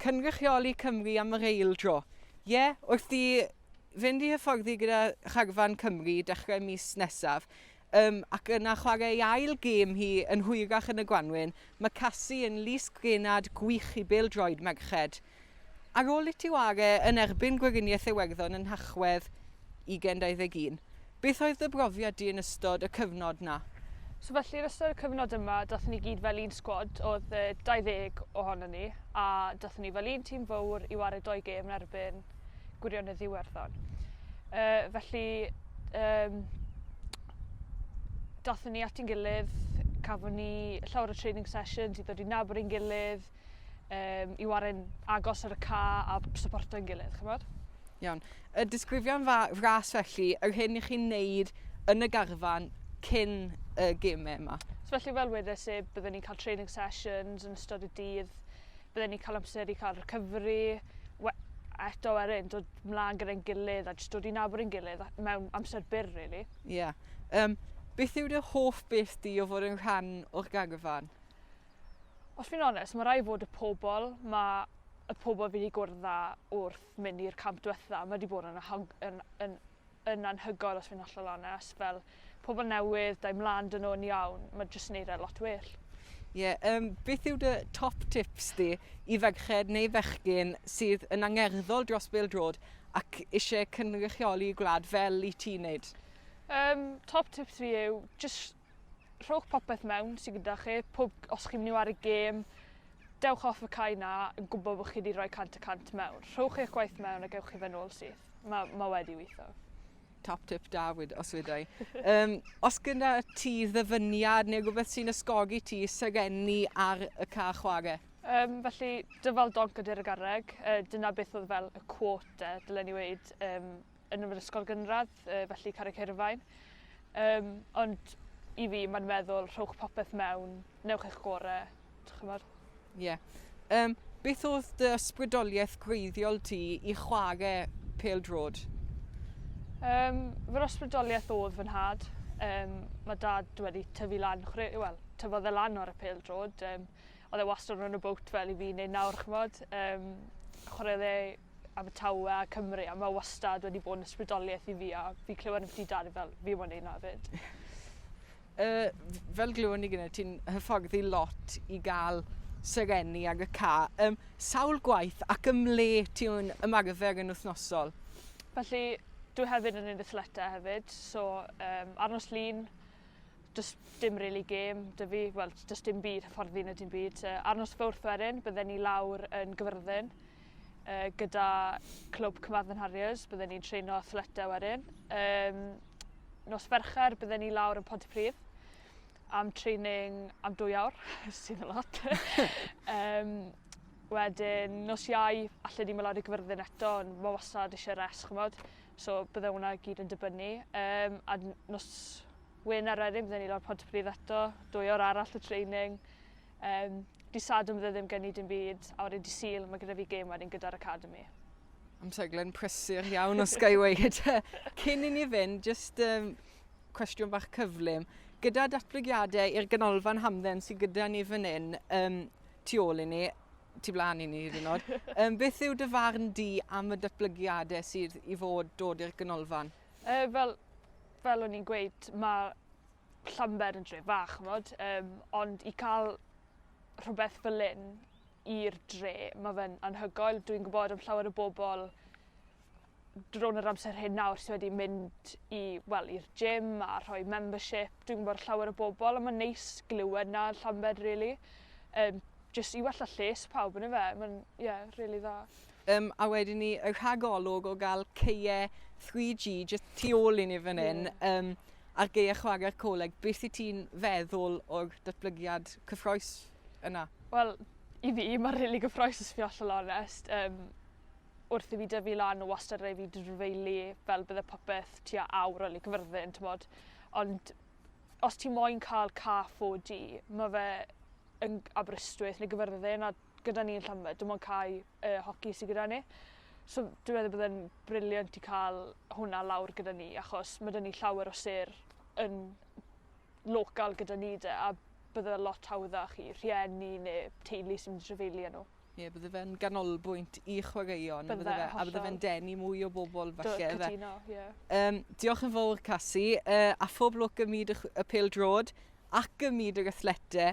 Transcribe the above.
Cynrychioli Cymru am yr eil dro. Ie, wrth i fynd i hyfforddi gyda Charfan Cymru dechrau mis nesaf, um, ac yna chwarae ei ail gêm hi yn hwyrach yn y gwanwyn, mae Cassie yn lys grenad gwych i bêl droed merched. Ar ôl iti ware yn erbyn Gweriniaeth Iwerddon yn Nhachwedd 2021, Beth oedd dy brofiad di yn ystod y cyfnod 'na? So felly yn ystod y cyfnod yma dathon ni gyd fel un sgwad, oedd 20 ohonon ni a dathon ni fel un tîm fowr i wario doi gêm yn erbyn Gwirionedd Iwerddon. Uh, felly um, dathon ni at i'n gilydd, cafon ni llawer o training sessions i ddod i nabod i'n gilydd, um, i waren agos ar y ca a supporto'n gilydd, chymod? Iawn. Y disgrifion fa ras felly, yr hyn i chi'n neud yn y garfan cyn y gemau yma. So felly fel wedes i, byddwn ni'n cael training sessions yn ystod y dydd, byddwn ni'n cael amser i cael recovery, eto ar un, dod mlaen gyda'n gilydd a jyst dod i nabod yn gilydd mewn amser byr, really. Ie. Yeah. Um, beth yw dy hoff beth di o fod yn rhan o'r garfan? os fi'n onest, mae rhaid fod y pobl, mae y pobl fi wedi gwrdd â wrth mynd i'r camp diwetha, mae wedi bod yn, yn, yn, yn anhygoel os fi'n hollol onest, fel pobl newydd, dau mlaen dyn nhw'n iawn, mae jyst yn neud e lot well. Ie, yeah, um, beth yw dy top tips di i ferched neu fechgyn sydd yn angerddol dros bildrod ac eisiau cynrychioli gwlad fel i ti wneud? Um, top tips fi yw just rhowch popeth mewn sy'n gyda chi, pob, os chi'n mynd i wario gêm, dewch off y cae na yn gwybod bod chi wedi rhoi 100 y 100 mewn. Rhowch eich gwaith mewn a gewch chi fe'n ôl syth. Mae ma wedi weithio. Top tip da, os wedai. um, os gyda ti ddyfyniad neu rhywbeth sy'n ysgogi ti serenni ar y ca chwarae? Um, felly, dyfal donc ydy'r garreg. Uh, dyna beth oedd fel y quote, e, dylen ni weid, um, yn yr ysgol gynradd, uh, felly Carreg Hirfaen. Um, ond i fi, mae'n meddwl, rhowch popeth mewn, newch eich gore, chymod? Ie. Yeah. Um, beth oedd dy ysbrydoliaeth gwreiddiol ti i chwarae pel drod? Um, fy ysbrydoliaeth oedd fy nhad. Um, mae dad wedi tyfu lan, chwre, well, tyfodd e lan o'r y pel drod. Um, oedd e wastad rhan o bwt fel i fi wneud nawr, chymod. Um, chwarae dde Abertawe a Cymru a mae wastad wedi bod yn ysbrydoliaeth i fi a fi clywed ambiti dad fel fi moyn neud na fyd. Uh, fel glywon ni gyda ti'n hyfforddi lot i gael serenni ag y ca. Um, sawl gwaith ac ym le ti'n ymarfer yn wythnosol? Felly, dwi hefyd yn edrych leta hefyd, so um, ar nos lun, just dim really game dy fi, wel, just dim byd hyfforddi na dim byd. Uh, ar nos fawrth wedyn, bydden ni lawr yn gyfyrddin, Uh, gyda Clwb Cymadden Harriers, byddwn ni'n treino athletau wedyn. Um, nos Fercher, byddwn ni lawr yn Pontypridd am training am dwy awr, sydd yn lot. um, wedyn, nos iau, allan ni'n mynd lawr i gyfyrddin eto, ond mae wasad eisiau res, chymod. So, byddai hwnna gyd yn dibynnu. Um, a nos Wyn ar wedyn, byddwn ni lawr Pontypridd eto, dwy awr arall o training. Um, di sad yn fydde ddim gen i dim byd, a wedyn di syl, mae gyda fi gêm wedyn gyda'r Academy. Am seglen prysur iawn o Skyway gyda. Cyn i ni fynd, just um, cwestiwn bach cyflym. Gyda datblygiadau i'r ganolfan hamdden sydd gyda ni fan hyn, um, tu ôl i ni, tu blaen i ni hyd yn oed, um, beth yw dy farn di am y datblygiadau sydd i fod dod i'r ganolfan? Uh, fel, fel o'n i'n gweud, mae Llanber yn dre fach, ch'mod? Um, ond i cael rhywbeth fel un i'r dre, mae fe'n anhygoel. Dwi'n gwybod am llawer o bobl drôn yr amser hyn nawr sydd wedi mynd i, wel, i'r gym a rhoi membership. Dwi'n gwybod llawer o bobl a mae'n neis glywed na Llanbed, really. Um, just i wella lles pawb yn y fe. Mae'n, ie, yeah, really dda. Yym a wedyn ni y rhagolwg o gael ceie 3G jyst tu ôl i ni fan hyn yeah. um, ar geie chwarae'r coleg. Beth i ti'n feddwl o'r datblygiad cyffroes yna? Wel, i fi, mae'n rili really gyffroes os fi allan onest. Um, wrth i fi dyfu lan o wastad rei fi drfeili fel bydde popeth tua awr o ligfyrddin, ti'n bod. Ond os ti moyn cael ca 4G, mae fe yn Aberystwyth neu gyfyrddin a gyda ni yn Llanbed, dim ond cae y hoci sydd gyda ni. So dwi'n meddwl bod e'n briliant i cael hwnna lawr gyda ni, achos mae dyn ni llawer o sir yn local gyda ni de, a bydde fe lot hawddach i rhieni neu teulu sy'n trefeili â nhw. Ie, yeah, bydde fe'n ganolbwynt i chwaraeon, bydde, bydde fe, a bydde fe'n denu mwy o bobl falle. Do, cytuno, ie. Yeah. Um, diolch yn fawr, Cassie, uh, a phob lwc ym myd y, y pel drod ac ym myd yr athlete.